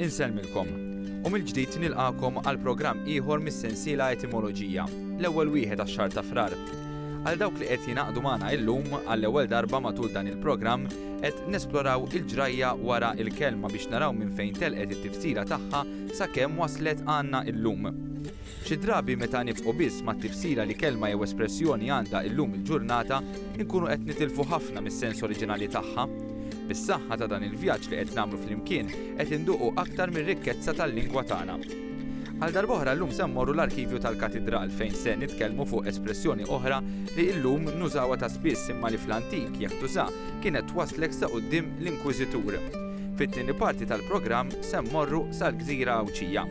Insellmilkom. U mill-ġdid nilqakom għal programm ieħor mis-sensiela etimoloġija, l-ewwel wieħed għax-xahar ta' frar. Għal dawk li qed jingħaqdu magħna illum għall-ewwel darba matul dan il-programm qed nesploraw il-ġrajja wara il-kelma biex naraw minn fejn telqet it-tifsira tagħha sakemm waslet għandna illum. Xi drabi meta nibqgħu biss mat-tifsira li kelma jew espressjoni għandha illum il-ġurnata, inkunu qed nitilfu ħafna mis-sens oriġinali tagħha. Bis-saħħa ta' dan il-vjaġġ li qed nagħmlu flimkien qed induqu aktar mir-rikkezza tal-lingwa tagħna. Għal darb'oħra llum se mmorru l-arkivju tal-Katidral fejn se nitkellmu fuq espressjoni oħra li illum nużawha ta' spiss imma li fl-antik jekk tuża kienet twasslek sa quddiem l-Inkwiżitur. Fit-tieni parti tal-programm se mmorru sal-Gżira Għawdxija.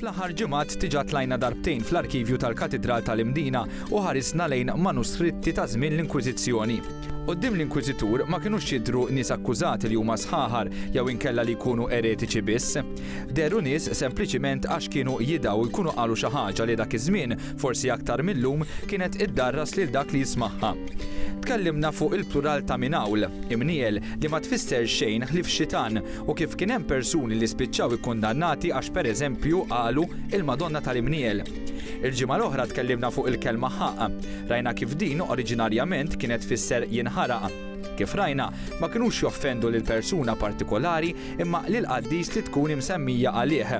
Fl-aħħar ġimgħat diġà tlajna darbtejn fl-arkivju tal-Katidral tal-Imdina u ħarisna lejn manuskritti ta' żmien l-Inkwiżizzjoni. Quddiem l-Inkwiżitur ma kinux jidhru nies akkużati li huma sħaħar jew inkella li jkunu eretiċi biss. Dehru nies sempliċiment għax kienu jidgħu u jkunu qalu xi ħaġa li dak iż-żmien, forsi aktar mil-lum, kienet iddarras lil dak li jismagħha. Tkellimna fuq il-plural ta' minn hawl, imniel, li ma tfisser xejn ħlief xitan, u kif kien hemm persuni li spiċċaw ikkundannati għax pereżempju qalu il-Madonna tal-Imniel. Il-ġimgħa l-oħra tkellimna fuq il-kelma ħaqq. Rajna kif din oriġinarjament kienet tfisser jinħaraq. Kif rajna, ma kinux joffendu lil persuna partikolari imma lil qaddis li tkun imsemmija għalih.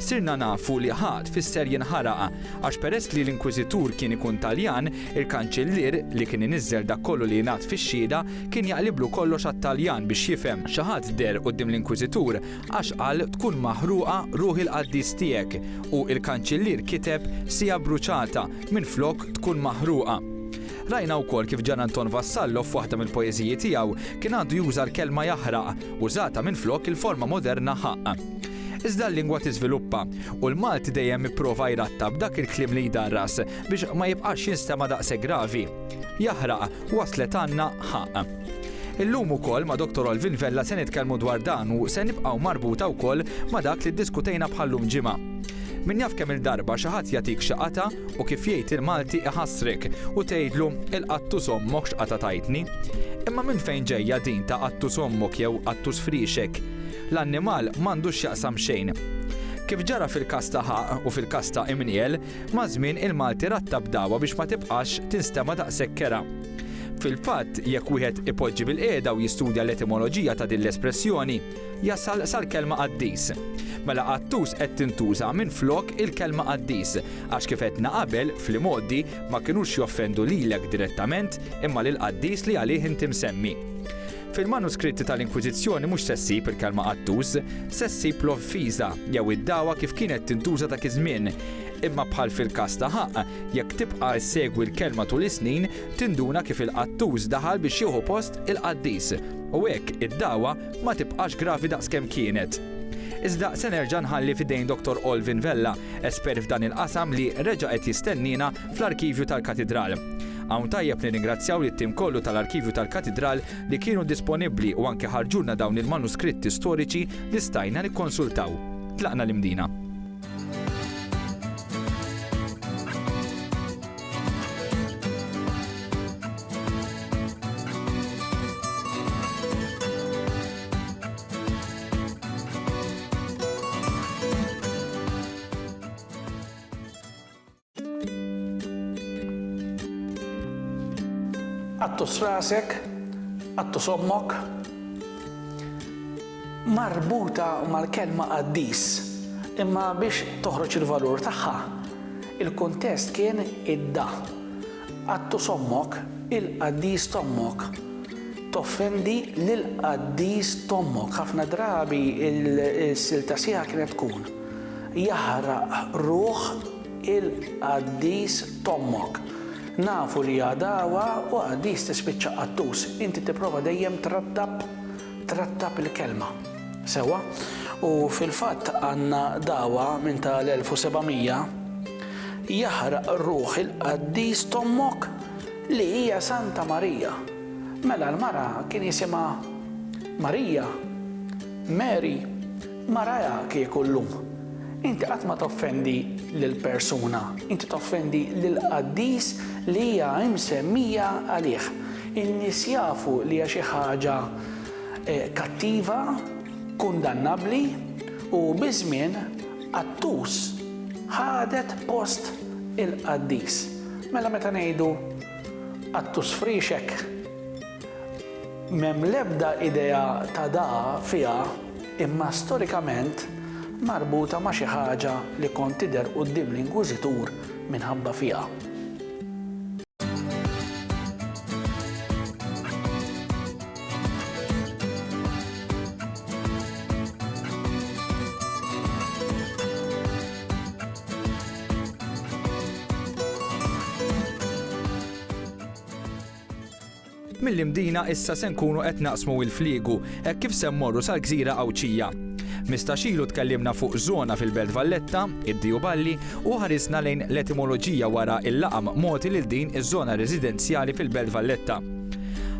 Sirna nafu li ħaqq tfisser jinħaraq għax peress li l-Inkwiżitur kien ikun Taljan, il-Kanċillier li kien iniżżel dak kollu li jingħad fix-xhieda Kien jaqliblu kollox għat-Taljan biex jifhem. Xi ħadd deher quddiem l-Inkwiżitur għax qal tkun maħruqa ruħ il-qaddis tiegħek u l-Kanċillier kiteb siegħa bruċata minflok tkun maħruqa. Rajna wkoll kif Gian Anton Vassallo f'waħda mill-poeżiji tiegħu kien għandu juża l-kelma jaħraq użata minflok il-forma moderna ħaqq. Iżda l-lingwa tiżviluppa u l-Malti dejjem ipprova jrattab dak il-kliem li jdarras biex ma jibqax jinstema' daqshekk gravi. jaħraq, waslet għandna ħaqq. Illum ukoll ma' Dottor Olvin Vella se nitkellmu dwar dan u se nibqgħu marbuta wkoll ma' dak li ddiskutejna bħal-lum ġimgħa. Min jaf kemm-il darba xi ħadd jagħtik xi qatgħa u kif jgħid il-Malti iħassrek u tgħidlu il-qattus ommok x'qatgħa tajtni. Imma minn fejn ġejja din ta' qattus ommok jew qattus friexek? L-annimal m'għandu x'jaqsam xejn. Kif ġara fil-każ ta' ħaqq u fil-każ ta' imniel, Maż-żmien il-Malti rattab dagħwa biex ma tibqax tinstema' daqshekk kerha. Fil-fatt, jekk wieħed ipoġġi bilqiegħda u jistudja l-etimoloġija ta' din l-espressjoni, jasal sal-kelma qaddis. Mela qattus qed tintuża minflok il-kelma qaddis, għax kif għedna qabel, fl-imgħoddi, ma kinux joffendu lilek direttament, imma lill-qaddis li għalih inti msemmi. Fil-manuskritti tal-Inkwiżizzjoni mhux se ssib il-kelma qattus, se ssib l-offiża jew id-dagħwa kif kienet tintuża dak iż-żmien. Imma bħal fil-każ ta' ħaqq, jekk tibqa' issegwi l-kelma tul is-snin, tinduna kif il-qattus daħal biex jieħu post il-qaddis, u hekk id-dagħwa ma tibqax gravi daqs kemm kienet. Iżda se nerġa' nħalli f'idejn Dottor Olvin Vella, espert f'dan il-qasam li reġa' qed jistenniena fl-arkivju tal-Katidral. Hawn tajjeb nirringrazzjaw lit-tim kollu tal-arkivju tal-Katidral li kienu disponibbli u anke ħarġulna dawn il-manuskritti storiċi li stajna nikkonsultaw. Tlaqna l-Imdina. Qattus rasek, qattus ommok. Marbuta mal-kelma qaddis, imma biex toħroġ il-valur tagħha, il-kuntest kien id-da. Qattus ommok, il-qaddis t'ommok. Toffendi lill-qaddis t'ommok. Ħafna drabi il-silta sieħa kienet tkun. jaħraq ruħ il-qaddis t'ommok. Nafu li hija dagħwa u qaddis tispiċċa qattus. Inti tipprova dejjem trattab trattab il-kelma. Sewwa. U fil-fatt għandna dagħwa minn ta' l-1700, Jaħraq ruħ il-qaddis t'ommok li hija Santa Marija. Mela l-mara kien jisimha Marija? Mary? Marajha kieku llum. Inti qatt ma toffendi lil persuna, inti toffendi lill-qaddis li hija msemmija għalih. In-nies jafu li hija xi ħaġa kattiva, kundannabbli u biż-żmien qattus ħadet post il-qaddis. Mela meta ngħidu qattus friexek? M'hemm l-ebda idea ta' da fiha imma storikament marbuta ma' xi ħaġa li kont tidher quddiem l-inkwiżitur minħabba fiha. Mill-Imdina issa se nkunu qed naqsmu il-fliegu hekk kif se mmorru sal-gżira Għawdxija. Mistax ilu tkellimna fuq żona fil-Belt Valletta, id-Diju Balli, u ħarisna lejn l-etimoloġija wara il-laqam mogħti lil din iż-żona residenzjali fil-Belt Valletta.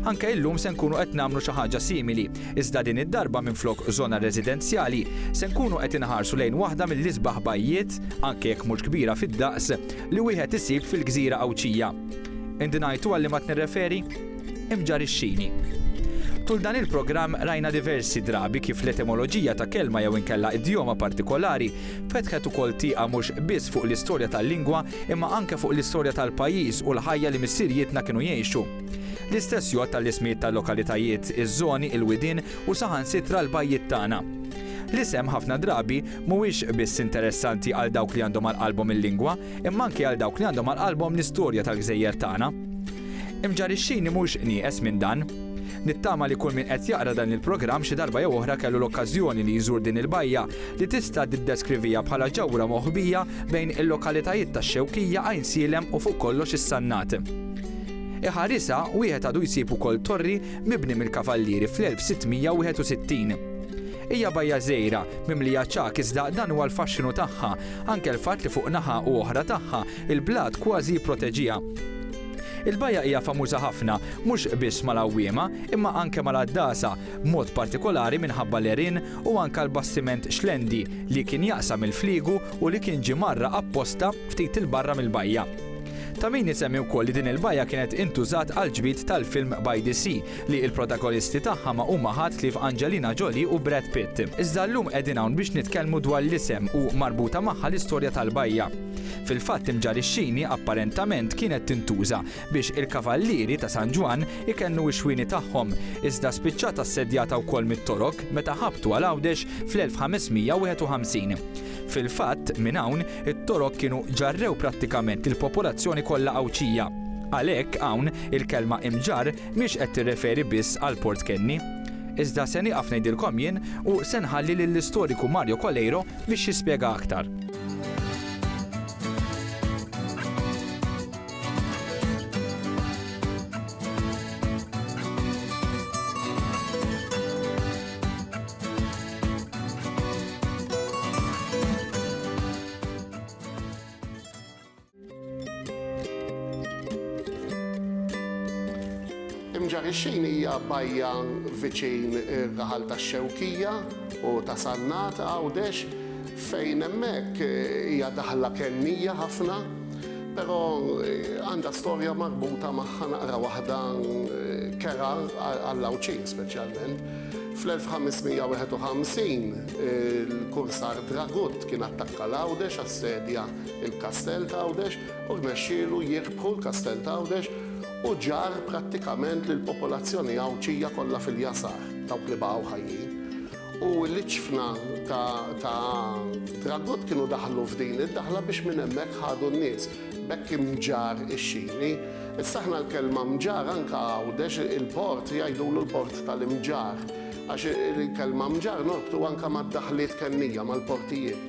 Anke illum se nkunu qed nagħmlu xi ħaġa simili, iżda din id-darba minflok żona residenzjali, se nkunu qed inħarsu lejn waħda mill-isbaħ bajjiet, anke jekk mhux kbira fid-daqs, li wieħed isib fil-gżira Għawdxija. Indunajtu għal liema qed nirreferi? Imġarr ix-xini. Tul dan il-programm rajna diversi drabi kif l-etimoloġija ta' kelma jew inkella idjoma partikolari fetħet ukoll tieqa mhux biss fuq l-istorja tal-lingwa imma anke fuq l-istorja tal-pajjiż u l-ħajja li missirijietna kienu jgħixu. L-istess jgħodd għall-ismijiet tal-lokalitajiet, iż-żoni, il-widien u saħansitra l-bajjiet tagħna. L-isem ħafna drabi mhuwiex biss interessanti għal dawk li għandhom għal qalbhom il-lingwa, imma anki għal dawk li għandhom għal qalbhom l-istorja tal-gżejjer tagħna. Imġarixxini mhux nieqes minn dan. Nittama li kull min qed jaqra dan il-programm xi darba jew oħra kellu l-okkażjoni li jżur din il-bajja li tista' tiddeskrivija bħala ġewra moħbija bejn il-lokalitajiet tax-Xewkija, Għajnsielem u fuq kollox is-Sannat. Iħarisha wieħed għadu jsib ukoll torri mibni mill-Kavallieri fl-1661. Hija bajja żgħira, mimlija ċagħaq iżda dan huwa l-faxxinu tagħha, anke l-fatt li fuq naħa u oħra tagħha l-blat kważi jipproteġiha. Il-bajja hija famuża ħafna mhux biss mal-għawwiema imma anke mal-għaddasa, b'mod partikolari minħabba l-għerien u anke l-bastiment Xlendi li kien jaqsam il-fliegu u li kien ġie mgħarraq apposta ftit 'il barra mill-bajja. Ta' min isemmi wkoll li din il-bajja kienet intużat għall-ġbid tal-film By the Sea li il-protagonisti tagħha ma huma ħadd ħlief Angelina Jolie u Brad Pitt. Iżda llum qegħdin hawn biex nitkellmu dwar l-isem u marbuta magħha l-istorja tal-bajja. Fil-fatt Imġarixxini apparentament kienet tintuża biex il-kavallieri ta' San Ġwann ikennu x-xwieni tagħhom, iżda spiċċat assedjata wkoll mit-Torok meta ħabtu għal Għawdex fl-1551. Fil-fatt, minn hawn, it-Torok kienu ġarrew prattikament lill-popolazzjoni kollha Għawdxija. Għalhekk hawn, il-kelma Imġarr Mhix qed tirreferi biss għal Port Kenny. Iżda se nieqaf ngħidilkom jien u se nħalli lill-istoriku Mario Coleiro biex jispjega aktar. Imġarixxin hija bajja viċin ir-raħal tax-Xewkija u ta' Sannat Għawdex fejn hemmhekk hija daħla kennija ħafna, però għandha storja marbuta magħha naqra waħda kerha għall-Għawdxin speċjalment. Fl-1551 il-kursar Dragut kien attakka l-Għawdex assedja il-Kastell t'Għawdex u rnexxielu jirbħu l-Kastell t'Għawdex u ġarr prattikament lill-popolazzjoni Għawdxija kollha fil-jasar, dawk li baqgħu ħajjin. U l-iċfna ta' Dragut kienu daħlu f'din id-daħla biex minn hemmhekk ħadu n-nies. B'hekk imġarr ix-xini. Issa aħna l-kelma mġarr anke Għawdex il-port jgħidulu l-port tal-imġarr għax il-kelma mġarr norbtu anke mad-daħliet kennija, mal-portijiet.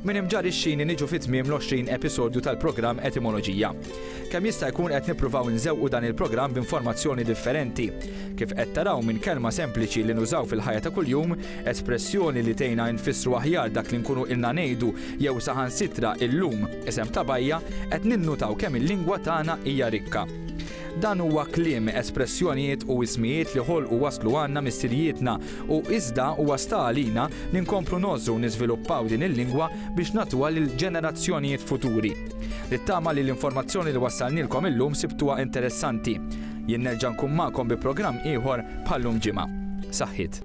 Minn Imġarr ix-Xini niġu fi tmiem l-20 episodju tal-programm Etimoloġija. Kemm jista' jkun qed nippruvaw inżewqu dan il-programm b'informazzjoni differenti. Kif qed taraw minn kelma sempliċi li nużaw fil-ħajja ta' kuljum, espressjoni li tgħinna infissru aħjar dak li nkunu ilna ngħidu jew saħansitra illum, isem ta' bajja, qed ninnutaw kemm il-lingwa tagħna hija rikka. Dan huwa kliem, espressjonijiet u ismijiet li ħolqu waslu għandna missirijietna u iżda huwa sta għalina li nkomplu ngħożżu u niżviluppaw din il-lingwa biex nagħtuha lil ġenerazzjonijiet futuri. Nittama li l-informazzjoni li wassalnilkom illum sibtuha interessanti. Jien nerġa' nkun magħkom bi programm ieħor bħal llum ġimgħa. Saħħiet.